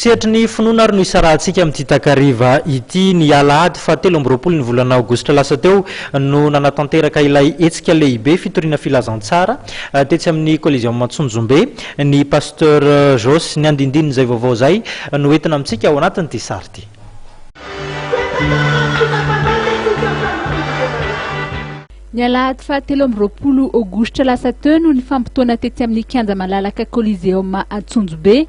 Sehatry ny finoana ary no isarahantsika amin'ity takariva ity. Ny alahady faha telo amby roapolo ny volana aogositra lasa teo no nanatanteraka ilay hetsika lehibe fitoriana filazantsara tetsy amin'ny Coliseum Antsonjombe ny Pasteur Jos. Ny andindinin'izay vaovao izay no entina amintsika ao anatin'ity sary ity. Ny alahady faha telo amby roapolo aogositra lasa teo no nifampitaona tetsy amin'ny kianja malalaka Coliseum Antsonjombe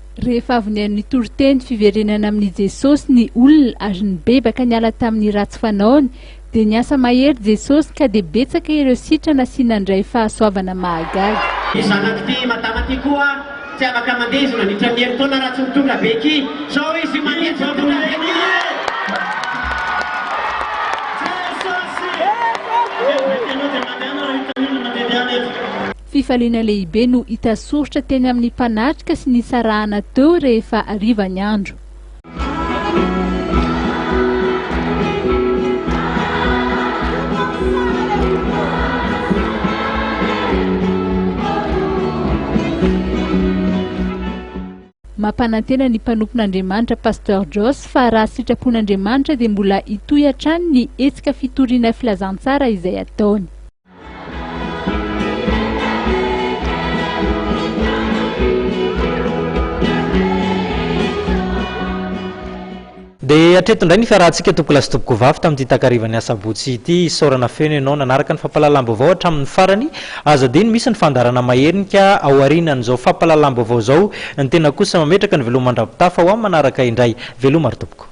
Rehefa avy nihaino ny toriteny fiverenana amin'i Jesosy ny olona ary nibebaka niala tamin'ny ratsy fanaony, dia niasa mahery Jesosy ka dia betsaka ireo sitrana sy nandray fahasoavana mahagaga. Ity zanak'ity madama ity koa tsy afaka mandeha izy mandritra ny herintaona raha tsy mitondra beky zao izy mandeha tsy mitondra beky Jesosy! Fifaliana lehibe no hita soritra teny amin'ny mpanatrika sy nisarahana teo rehefa hariva ny andro. Mampanantena ny mpanompon'Andriamanitra Pasteur Joss fa raha sitrapon'Andriamanitra dia mbola hitohy hatrany ny hetsika fitoriana filazantsara izay ataony. Dia hatreto indray ny fiarahantsika tompokolahy sy tompokovavy tamin'ity takarivan'ny asabotsy ity. Isaorana feno ianao nanaraka ny fampahalalam-baovao hatramin'ny farany. Aza adino misy ny fandaharana mahernika ao aorianan'izao fampahalalam-baovao izao. Ny tena kosa mametraka ny veloma mandram-pitafa ho amin'ny manaraka indray. Veloma ry tompoko.